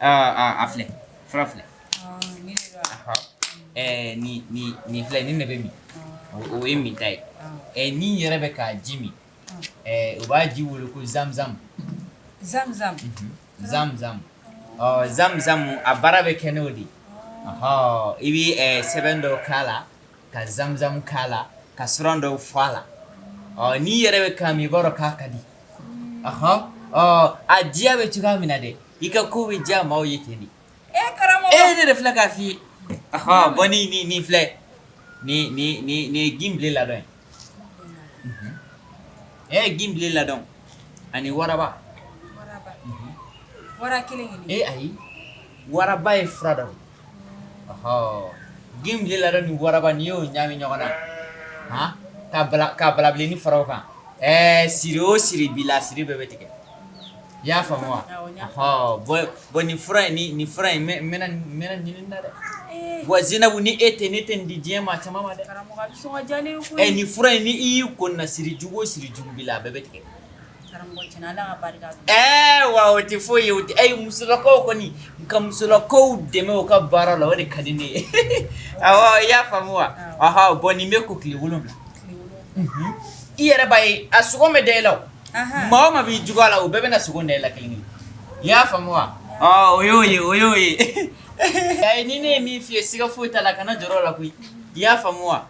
a filɛ fura filɛ nin filɛ nin ne bɛ min o ye min ta ye n'i yɛrɛ bɛ k'a ji min u b'a ji wele ko zamzam zamzam zamzam zamzam a baara bɛ kɛ n'o de ye i bɛ sɛbɛn dɔ k'a la ka zamzam k'a la ka suran dɔw fɔ a la n'i yɛrɛ bɛ k'a min i b'a dɔn k'a ka di ɔhɔn a diya bɛ cogoya min na dɛ i ka ko bɛ diya maaw ye ten de e ne de filɛ k'a f'i ye ɔhɔn bɔn ni ni ni filɛ ni ni ni ni ye ginbile ladɔn ye e ye ginbile ladɔn ani waraba waraba kelen kelen ee ayi waraba ye fura dɔ ye Ginbile ladɔn ni waraba ni y'o ɲami ɲɔgɔn na ka ka balabilennin fara o kan ɛɛ siri o siri b'i la siri bɛɛ bɛ tigɛ i y'a faamu wa bɔn nin fura in nin fura in ɲinin na dɛ wa zinabu ni e tɛ ne tɛ nin di diɲɛ maa caman ma dɛ nin fura in ni i y'i ko na sirijugu o sirijugu b'i la a bɛɛ bɛ tigɛ Wa o tɛ foyi ye musolakaw kɔni n ka musolakaw dɛmɛ u ka baara la o de ka di ne ye i y'a faamu wa ah bɔn nin bɛ ko tile wolonwula i yɛrɛ b'a ye a sugo bɛ da e la maa o maa b'i juguya la o bɛɛ bɛ na sugo de la kelen i y'a faamu wa o y'o ye o y'o ye a ye ni ne ye min f'i ye siga foyi t'a la kana jɔrɔ a la koyi i y'a faamu wa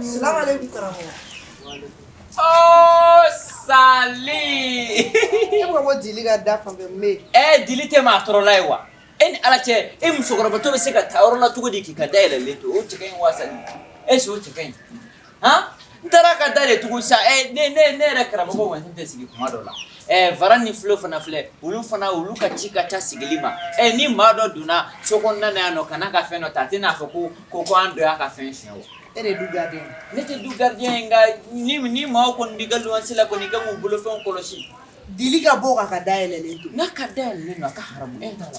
Salam alaikum karamɔgɔ. Oh sali. E bɛ ka bɔ Dili ka da fan fɛ me. Ɛɛ Dili tɛ maa tɔɔrɔla ye wa? E ni Ala cɛ e musokɔrɔbatɔ bɛ se ka taa yɔrɔ la cogo di k'i ka da yɛlɛlen to o cɛ ka ɲi wa sali? Est ce que o cɛ ka ɲi? ha n taara ka da de tugu sa ɛ ne ne ne yɛrɛ karamɔgɔ wa n tɛ sigi kuma dɔ la ɛ fara ni filo fana filɛ olu fana olu ka ci ka ca sigili ma ɛ ni maa dɔ donna so kɔnɔna na yan n'o ka na ka fɛn dɔ ta a tɛna a fɔ ko ko ko an dɔ y'a ka fɛn sonyɛ wa e de du gardien ne tɛ du gardien ye nka ni ni maaw kɔni b'i ka luwanse la kɔni i ka k'u bolofɛnw kɔlɔsi dili ka bɔ ka ka dayɛlɛlen to n'a ka dayɛlɛlen don a ka haramu e t'a la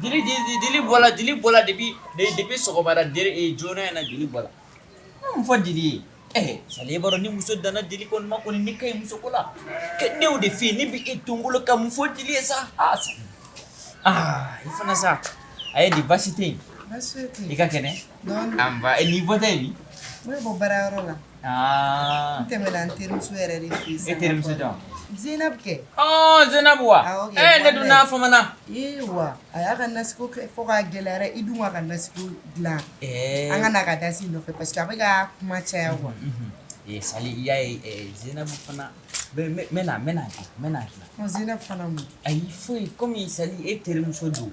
Dili bɔra Dili bɔra depuis depuis sɔgɔmada joona na Dili bɔra mun fɔ Dili ye ɛɛ Sali b'a dɔn ni muso danna Dili kun ma kɔni ni ka muso ko la ne y'o de f'i ye ne bɛ e to bolo ka mun fɔ Dili ye sa aa aa i fana sa a ye di baasi tɛ yen i ka kɛnɛ An ba e ni bɔ tɛ bi ne bɔ baara yɔrɔ la n tɛmɛna an terimuso yɛrɛ de fɛ yen e terimuso jɔn Zɛyinabu kɛ Zɛyinabu wa e ne dun n'a famana ee wa a y'a ka nasiko kɛ fo k'a gɛlɛyara i dun wa ka nasiko dilan an ka na ka da si nɔfɛ parce que a bɛ ka kuma caya wa Sali i y'a ye Zɛyinabu fana mɛ mɛ a y'i fo kɔmi Sali e terimuso don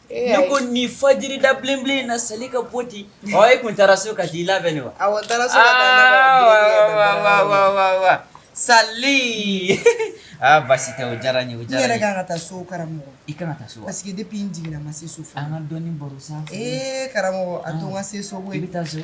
Ne ko ni fajiri da bilenbilenna seli ka bɔ di e tun taara so ka di i labɛn ne wa sa aa basi tɛ o diyara n ye o diyara kan ka taa so karamɔgɔ i kan ka taa so parce que depuis n jiginna n ma se so fo an ka dɔɔni baro sa ee karamɔgɔ a to n ka se so i bɛ taa so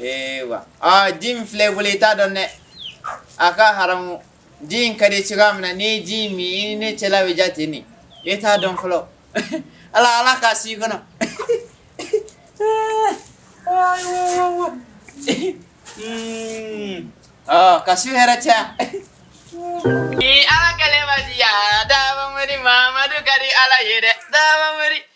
Ee wa aa ji min filɛ bolo i t'a dɔn dɛ a ka haramu ji in ka di cogoya min na ni ji min ne cɛla bɛ ja ten nin e t'a dɔn fɔlɔ ala ala k'a si i kɔnɔ ka su hɛrɛ caya ni ala kɛlen ma diya daba mori mamadu ka di ala ye dɛ daba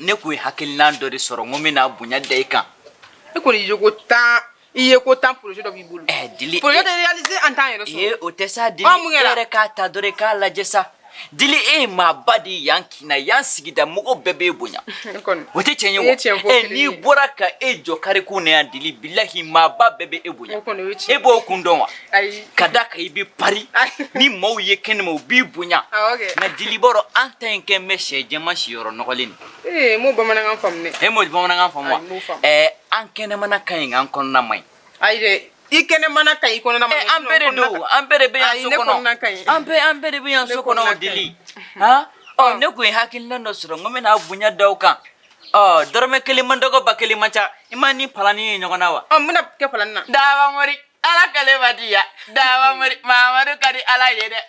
ne kun ye hakilina dɔ de sɔrɔ n ko n bɛna bonya da i kan e kɔni i ye ko tan i ye ko tan projet dɔ b'i bolo eh, dili projet de réaliser an t'an yɛrɛ sɔrɔ ee o tɛ sa dili e yɛrɛ k'a ta dɔrɔn i k'a lajɛ sa dili e ye maaba de ye yan kin na yan sigida mɔgɔ bɛɛ b'e bonya o tɛ tiɲɛ ye wa ɛ eh, n'i bɔra ka e jɔ kare kun na yan dili bilahi maaba bɛɛ bɛ e bonya e b'o kun dɔn wa ka d'a kan i b'i pari ni maaw ye kɛnɛma u b'i bonya nka dili b'a dɔn an ta in kɛ bɛsɛ jɛman siyɔrɔ nɔgɔlen de n m'o bamanankan faamu dɛ e m'o bamanankan faamu wa ɛɛ an kɛnɛmana ka ɲi nka an kɔnɔna man ɲi ayi dɛ i kɛnɛmana ka ɲi kɔnɔna man ɲi an bɛɛ de don an bɛɛ de bɛ yan so kɔnɔ an bɛɛ an bɛɛ de bɛ yan so kɔnɔ o dili han ɔ ne tun ye hakilina dɔ sɔrɔ n ko n bɛna bonya da aw kan ɔ dɔrɔmɛ kelen man dɔgɔ ba kelen man ca i ma nin palani ye ɲɔgɔn na wa ɔ mun bɛna kɛ palani na daba mori ala kale ma diya daba mori mamadu ka di ala ye dɛ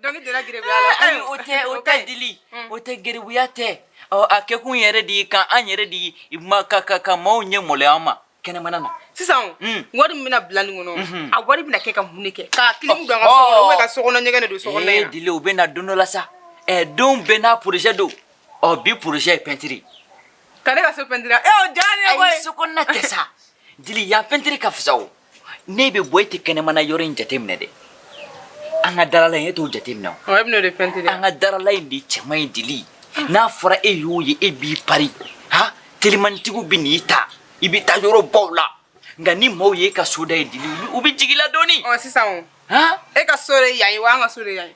donc dira giribuya la ayi o tɛ o tɛ dili o tɛ giribuya tɛ ɔ a kɛkun yɛrɛ de ye k'an an yɛrɛ de ye ma ka ka ka maaw ɲɛ malo an ma kɛnɛmana na sisan wari min bɛna bila nin kɔnɔ a wari bɛna kɛ ka mun de kɛ ka kilimu don an ka so kɔnɔ ou bien ka so kɔnɔ ɲɛgɛn de don so kɔnɔ ee dili o bɛ na don dɔ la sa ɛ don bɛɛ n'a projet don ɔ bi projet ye pɛntiri Ka ne ka so pɛntiri e y'o diya ne ye koyi. Ayi so kɔnɔna tɛ sa Dili yan pɛntiri ka fisa o n'e bɛ bɔ e tɛ kɛnɛmana yɔrɔ in jateminɛ dɛ an ka darala in e t'o jateminɛ o. Ɔ e bɛn'o de pɛntiri an ka darala in de cɛ man ɲi Dili n'a fɔra e y'o ye e b'i pari ha telimanitigiw bɛ n'i ta i bɛ taa yɔrɔ baw la nka ni maaw ye e ka so da ye Dili u bɛ jigin i la dɔɔni. Ɔ sisan o. Han. E ka so de ye yan ye wa an ka so de ye yan ye.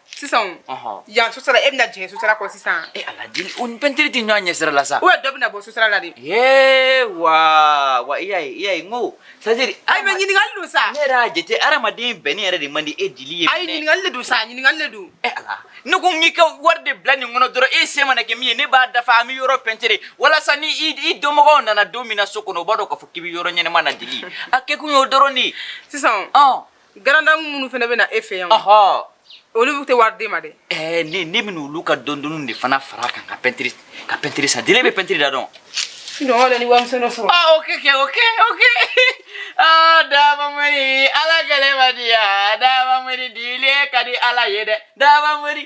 sisan o yan sosara e bɛna jigin sosara kɔ sisan e ala dili o ni pɛntiri tɛ ɲɔgɔn ɲɛsira la sa dɔ bɛna bɔ sosara la de ee wa wa i y'a ye i y'a ye n ko c'est à dire ayi mɛ ɲininkali don sa ne yɛrɛ y'a jate hadamaden bɛnni yɛrɛ de man di e dili ye ayi ɲininkali de don sa ɲininkali de don e ala ne ko n k'i ka wari de bila nin kɔnɔ dɔrɔn e se mana kɛ min ye ne b'a dafa an bɛ yɔrɔ pɛntiri walasa ni i dɔnmɔgɔw nana don min na so kɔnɔ u b'a dɔn k'a fɔ k'i bɛ yɔrɔ ɲɛnama na dili a kɛkun y'o dɔrɔn de ye sisan Garandamu minnu fana bɛ na e fɛ yan olu tɛ wari d'e ma dɛ eh, ne ne bɛna olu ka dɔndɔnniw de fana fara kan ka pɛntiri ka pɛntiri san Dili e bɛ pɛntiri da dɔn Non wala ni warimisɛn dɔ sɔrɔ. Ah ok ok ok ok. Ah Daba Mori ala kɛlɛ ma diya Daba Mori Dili e ka di ala ye dɛ Daba Mori.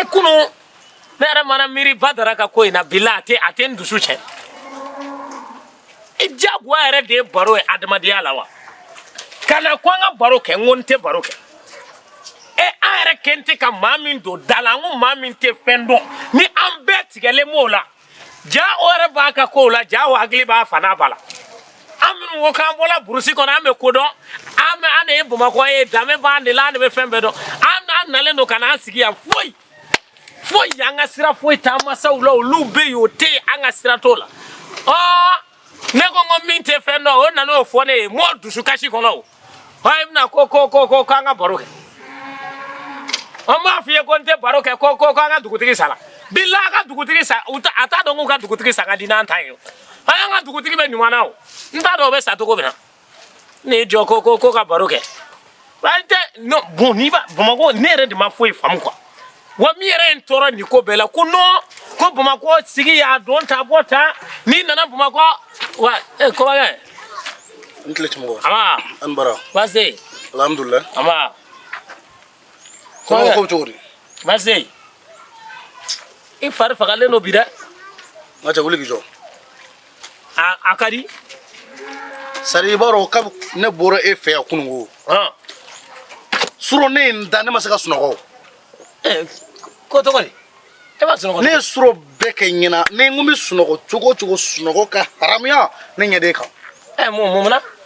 e kunu ne yɛrɛ mana miiri badara ka ko in na bi la a tɛ a tɛ n dusu cɛ i jagoya yɛrɛ de ye baro ye adamadenya la wa ka na ko an ka baro kɛ n ko n tɛ baro kɛ e an yɛrɛ kɛn tɛ ka maa min don da la n ko maa min tɛ fɛn dɔn ni an bɛɛ tigɛlen b'o la jaa o yɛrɛ b'a ka kow la jaa o hakili b'a fana b'a la an minnu ko k'an bɔla burusi kɔnɔ an bɛ ko dɔn an bɛ an de ye bamakɔ ye danbe b'an de la an de bɛ fɛn bɛɛ dɔn an an nalen don ka n'an sigi yan foyi foyi an ka sira foyi t'an masaw la olu bɛ yen o tɛ yen an ka sira t'o la ɔɔ ne ko n ko min tɛ fɛn dɔn o nana o fɔ ne ye mɔɔ dusukasi kɔnɔ o ɔ i bɛna ko ko ko ko k'an ka baro kɛ an b'a f'i ye ko n tɛ baro kɛ ko ko k'an ka dugutigi sala bila a ka dugutigi sa u ta a t'a dɔn k'u ka dugutigi sa ka di n'an ta ye o an y'an ka dugutigi bɛ ɲuman na o n t'a dɔn o bɛ sa cogo min na ne jɔ ko ko ko ka baro kɛ an tɛ non bon n'i ba bamakɔ ne yɛrɛ de ma foyi faamu quoi wa min yɛrɛ ye n tɔɔrɔ nin ko bɛɛ la ko non ko bamakɔ sigiya don ta bɔ ta n'i nana bamakɔ wa e kɔbakɛ n tile tun kɔ a ni baara baasi alhamdulilayi an ko cogo di baasi i fari fagalen don bi dɛ nka cɛ wuli k'i jɔ a ka di sari i b'a dɔn kabi ne bɔra e fɛ yan kunun ko surɔ ne ye n da ne ma se ka sunɔgɔ ko cogo di e ma sunɔgɔ ne ye surɔ bɛɛ kɛ ɲɛna ni n ko n bɛ sunɔgɔ cogo o cogo sunɔgɔ ka haramuya ne ɲɛ de kan mun mun na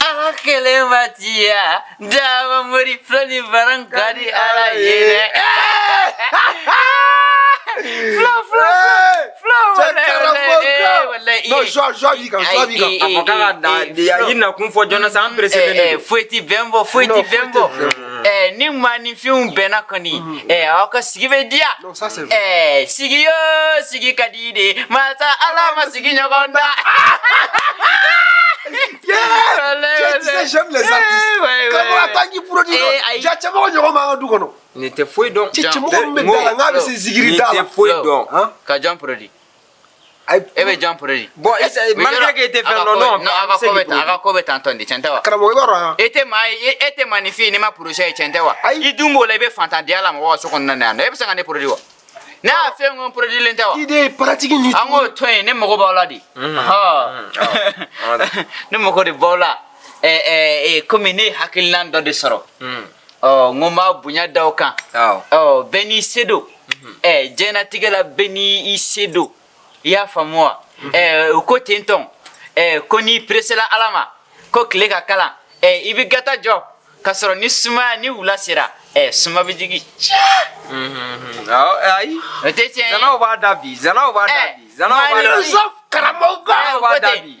Ala kɛlɛ ma diya daba mori filanin baran ka di ala ye dɛ fila fila fila wala wala non joie joie b'i kan joie b'i kan a fɔ k'a ka da i nakun fɔ joona sa an perese de don foyi ti bɛn bɔ foyi ti bɛn bɔ ni maaninfinw bɛnna kɔni aw ka sigi bɛ diya Sasa eh, sigi yo sigi ka di dɛ masa ala ma sigi ɲɔgɔn da. Cɛmɔgɔ ɲɔgɔn b'an ka du kɔnɔ. Nin tɛ foyi dɔn. Cɛmɔgɔ min bɛ da la n'a bɛ se zigiri da la. Nin tɛ foyi dɔn. Ka jan produit. e bɛ jan produit bon malgré que e tɛ fɛn dɔn non a ka ko bɛ tan a ka ko bɛ tan tɔn de cɛn tɛ wa karamɔgɔ i b'a dɔn yan e tɛ maa ye e tɛ maa ni f'i ye n'i ma projet ye cɛn tɛ wa i dun b'o la i bɛ fantandenya la mɔgɔ ka so kɔnɔna na yan nɔ e bɛ se ka ne produit wa ne y'a fɛn ŋo produilen tɛ wa i de ye pratique ni an k'o to yen ne mago b'aw la dɛ ne mago de b'aw la komi ne ye hakilinan dɔ de sɔrɔ ɔ n ko n b'a bonya da aw kan ɔ bɛɛ n'i se don ɛ diɲɛnatigɛ la bɛɛ n'i se don i y'a faamu wa ɛ o ko ten tɔn ɛ ko n'i peresela ala ma ko tile ka kalan ɛ i bɛ gata jɔ k'a sɔrɔ ni sumaya ni wula sera ɛ suma bɛ jigin. ayi o tɛ tiɲɛ ye zanaw b'a da bi zanaw b'a da bi zanaw b'a da bi karamɔgɔ b'a da bi.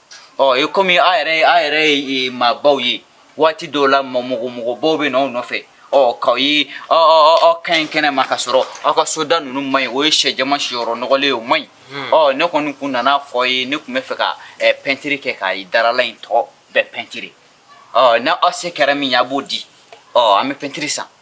ɔ e komi a yɛrɛ ye a yɛrɛ ye maabaw ye waati dɔw la mɔgɔmɔgɔbaw bɛ na aw nɔfɛ ɔ k'aw ye aw ka ɲi kɛnɛ ma ka sɔrɔ aw ka soda ninnu man ɲi o ye sɛ jama siyɔrɔ nɔgɔlen ye o man ɲi ɔ ne kɔni kun nana a fɔ aw ye ne kun bɛ fɛ ka pɛntiri kɛ ka darala in tɔ bɛɛ pɛntiri ɔ n'aw se kɛra min ye a b'o di ɔ an bɛ pɛntiri san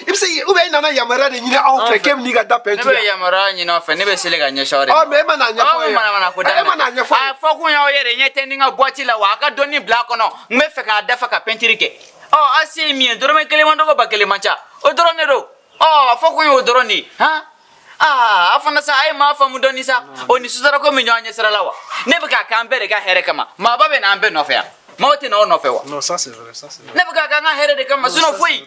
i bɛ se k'i- ou bien i nana yamaruya de ɲini anw fɛ k'e bɛ n'i ka da pɛntiri. ne bɛ yamaruya ɲini aw fɛ ne bɛ seli ka ɲɛsin aw de Ɔ, mais e ma n'a ɲɛfɔ aw ye. bɛ manamana ko E ma n'a ɲɛfɔ ye. a fɔ kun y'aw yɛrɛ ɲɛ tɛ ni n ka buwati la wa a ka dɔɔni bila a kɔnɔ n bɛ fɛ k'a dafa ka pɛntiri kɛ ɔ a se ye min ye dɔrɔmɛ kelen man dɔgɔ ba kelen man ca o dɔrɔn de don ɔ a fɔ kun ye o dɔrɔn de ye han aa a fana sa a ye maa faamu dɔɔni sa o ni sutarako min ɲɔgɔn ɲɛ sira la wa ne bɛ k'a kɛ an bɛɛ de ka hɛrɛ kama maaba bɛ na an bɛɛ nɔfɛ yan maaw tɛ na aw nɔfɛ wa Non, ça c'est vrai, ça c'est vrai. ne bɛ k'a kɛ an ka hɛrɛ de kama sinon foyi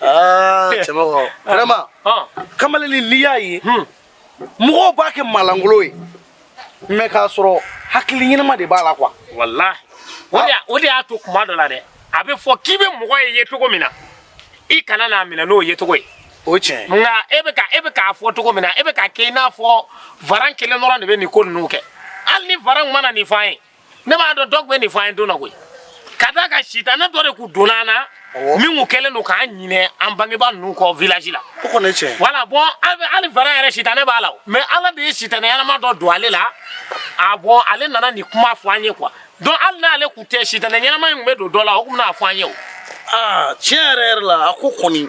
Ah, eh. cɛmɔgɔ eh. vraiment ah. kamalen nin n'i y'a ye hmm. mɔgɔw b'a kɛ maa lankolon ye mais k'a sɔrɔ hakili ɲɛnama de b'a la quoi walahi ah. o de y'a to kuma dɔ la dɛ a bɛ fɔ k'i bɛ mɔgɔ ye yecogo min na i kana n'a minɛ n'o yecogo ye o tiɲɛ nka e bɛ ka e bɛ k'a fɔ cogo min na e bɛ k'a kɛ i n'a fɔ varan kelen dɔrɔn de bɛ nin ko ninnu kɛ hali ni varan ma na nin f'an ye ne b'a dɔn dɔ kun bɛ nin fɔ an ye don na koyi ka d'a kan sitanɛ dɔ de kun donna an na min kun kɛlen don k'an ɲinɛ an bangebaa ninnu kɔ village la o kɔni ye tiɲɛ ye voilà bon hali varan yɛrɛ sitanɛ b'a la mais ala de ye sitanɛ ɲɛnama dɔ don ale la bon ale nana nin kuma fɔ an ye quoi donc hali n'ale kun tɛ sitanɛ ɲɛnama in kun bɛ don dɔ la o kun bɛna fɔ an ye o aa tiɲɛ yɛrɛ yɛrɛ la a ko kɔni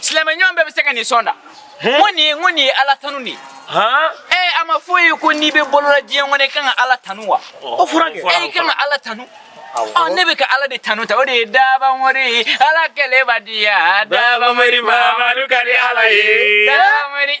silamɛ ɲɔgɔn bɛɛ bɛ se ka nin sɔn da n ko nin ye n ko nin ye ala tanu de ye ee a ma fɔ i ye ko n'i bɛ balo la diɲɛ kɔnɔ i kan ka ala tanu wa o fɔra kɛ e kan ka ala tanu ɔ ne bɛ ka ala de tanu tan o de ye dabanwari ala kelen b'a diya dabanwari mamadu ka di ala ye dabanwari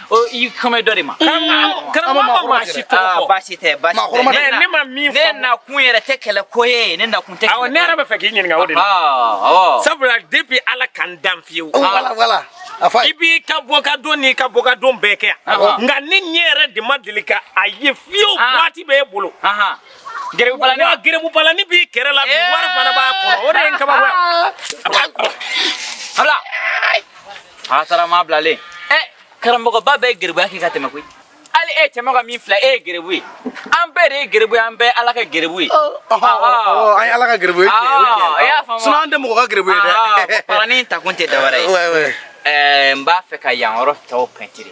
i kɔmɛ dɔ de ma baasi tɛ ne ma min fɔ ne nakun yɛrɛ tɛ kɛlɛ ko ye ne nakun tɛ ne yɛrɛ bɛ fɛ k'i ɲininka o de la sabula depuis ala k'an dan fiyewu i b'i ka bɔkadon n'i ka bɔkadon bɛɛ kɛ yan nka ne ɲɛ yɛrɛ de ma deli ka a ye fiyewu waati bɛ e bolo gɛrɛbubarani wa gɛrɛbubarani b'i kɛrɛ la bi wari fana b'a kɔnɔ o de ye n kabako ye A taara maa bilalen. Ɛ karamɔgɔba bɛɛ ye gɛrɛbuya kɛ ka tɛmɛ koyi. Hali e cɛmɔgɔ min filɛ e ye gɛrɛbu ye. An bɛɛ de ye gɛrɛbu ye, an bɛɛ Ala ka gɛrɛbu ye. An ye Ala ka gɛrɛbu ye. I y'a faamu wa? Sinon an tɛ mɔgɔ ka gɛrɛbu ye dɛ. Ɔhɔn, barani in ta kun tɛ dɔ wɛrɛ ye. Wɛ wɛ. Ɛɛ n b'a fɛ ka yan yɔrɔ tɔw pɛntiri.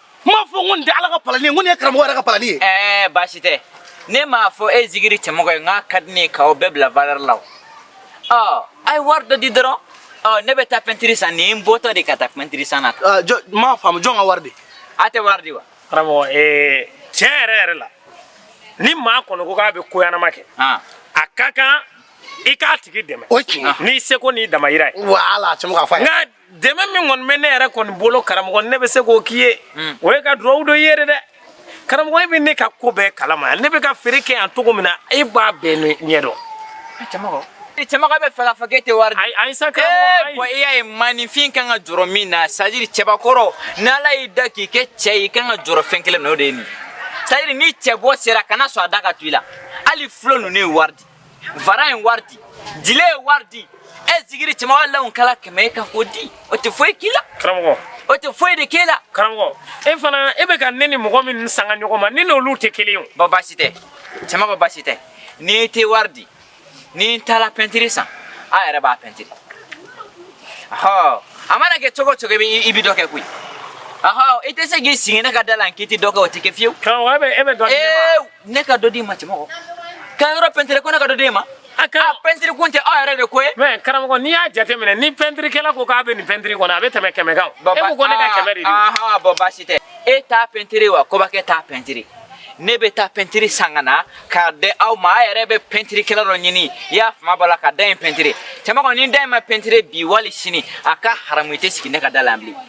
n m'a fɔ ko nin tɛ ala ka palani ye ko nin ye karamɔgɔ yɛrɛ ka palani ye. ɛɛ baasi tɛ ne m'a fɔ e zigiri cɛmɔgɔ ye n k'a ka di ne ye k'aw bɛɛ bila valeur la o ɔ a ye wari dɔ di dɔrɔn ɔ ne bɛ taa pɛntiri san nin ye n bɔtɔ de ka taa pɛntiri san na. aa jɔ n m'a faamu jɔn ka wari di. a tɛ wari di wa. karamɔgɔ ee tiɲɛ yɛrɛ yɛrɛ la ni maa kɔni ko k'a bɛ ko ɲɛnama kɛ a ka kan i k'a tigi dɛmɛ n'i seko n'i damayira ye. wala cɛmɔgɔ a fɔ a ye. dɛmɛ min kɔni bɛ ne yɛrɛ kɔni bolo karamɔgɔ ne bɛ se k'o k'i ye hmm. o ye ka dugawu don i ye dɛ karamɔgɔ e bɛ ne ka ko bɛɛ kalama ne bɛ ka feere kɛ yan cogo min na e b'a bɛɛ ɲɛ dɔn cɛmɔgɔ bɛ fɛ k'a fɔ k'e tɛ wari di ayi sa karamɔgɔ ayi bɔn i y'a ye maninfin kan ka jɔrɔ min na c'est à dire cɛbakɔrɔ n'ala y'i da k'i kɛ cɛ ye i kan ka jɔrɔ fɛn kelen min na o de ye nin c'est à dire ni cɛ bɔ sera kana sɔn a da ka to i la hali fulo ninnu ye wari di Vara ye wari di, dile ye wari di, e zigiri cɛmɔgɔ law kana kɛmɛ e kan k'o di, o tɛ foyi k'i la. Karamɔgɔ. O tɛ foyi de k'e la. Karamɔgɔ, e fana e bɛ ka ne ni mɔgɔ min sanga ɲɔgɔn ma, ne n'olu tɛ kelen ye o. Bɔn baasi tɛ, cɛmɔgɔ baasi tɛ, n'i tɛ wari di, ni n taara pɛntiri san, a yɛrɛ b'a pɛntiri. Ɔhɔ, a mana kɛ cogo o cogo i bɛ i bɛ dɔ kɛ koyi. Ɔhɔ, i tɛ se k'i sigi ne ka da la n k'i tɛ dɔ kɛ o tɛ kɛ fiyewu. Karamɔgɔ, e bɛ e bɛ dɔ di ne ma. Eew! ne ka dɔ d'i ma cɛmɔgɔ ka yɔrɔ pɛntiri ko ne ka dɔ d'e ma a pɛntiri kun tɛ aw yɛrɛ de ko ye mɛ karamɔgɔ n'i y'a jateminɛ ni pɛntirikɛla ko k'a bɛ nin pɛntiri kɔnɔ a bɛ tɛmɛ kɛmɛ kan e ko ko ne ka kɛmɛ de di bɔn baasi tɛ e t'a pɛntiri wa kobakɛ t'a pɛntiri ne bɛ taa pɛntiri san ka na k'a di aw ma a yɛrɛ bɛ pɛntirikɛla dɔ ɲini i y'a fama b'a la ka da in pɛntiri cɛmɔgɔ ni da in ma pɛntiri bi wali sini a ka haramu i tɛ sigi ne ka da la yan bilen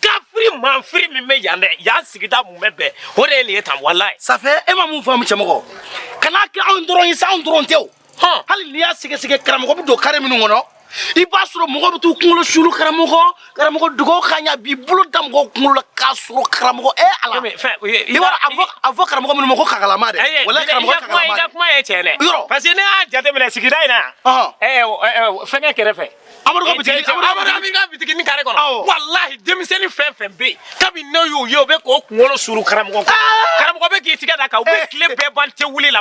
kafiri manfiri min bɛ yan dɛ yan sigida mun bɛ bɛn o de ye nin ye tan walayi. safɛ e ma mun faamu cɛmɔgɔ kana kɛ anw dɔrɔn ye sa anw dɔrɔn tɛ o hali n'i y'a sɛgɛsɛgɛ karamɔgɔ bɛ don kare minnu kɔnɔ i b'a sɔrɔ mɔgɔw bɛ t'u kunkolo suulu karamɔgɔ karamɔgɔ dugawu ka ɲa b'i bolo da mɔgɔw kunkolo la k'a sɔrɔ karamɔgɔ e ala i b'a a fɔ karamɔgɔ minnu ma ko kakalama dɛ wala karamɔgɔ kakalama i ka kuma ye tiɲɛ dɛ yɔrɔ parce que ne y'a jateminɛ sigida in na yan fɛngɛ kɛrɛfɛ amadu ka bitiki amadu ami ka bitiki ni kare kɔnɔ walahi denmisɛnnin fɛn fɛn bɛ yen kabi ne y'u ye u bɛ k'u kunkolo suru karamɔgɔ kan karamɔgɔ bɛ k'i tigɛ d'a kan u bɛ tile bɛɛ ban te wuli la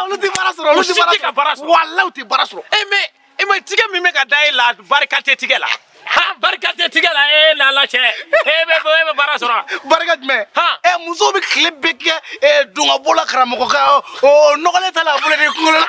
olu tɛ baara sɔrɔ olu tɛ ka baara sɔrɔ walahi u tɛ baara sɔrɔ e mɛ e mɛ tigɛ min bɛ ka da e la barika tɛ tigɛ la ha barika tɛ tigɛ la e lala cɛ e bɛ e bɛ baara sɔrɔ barika jumɛn ha ɛ muso bɛ tile bɛɛ kɛ dungabɔ la karamɔgɔ kan ɔ nɔgɔlen t'a la a bolo de kunkolo la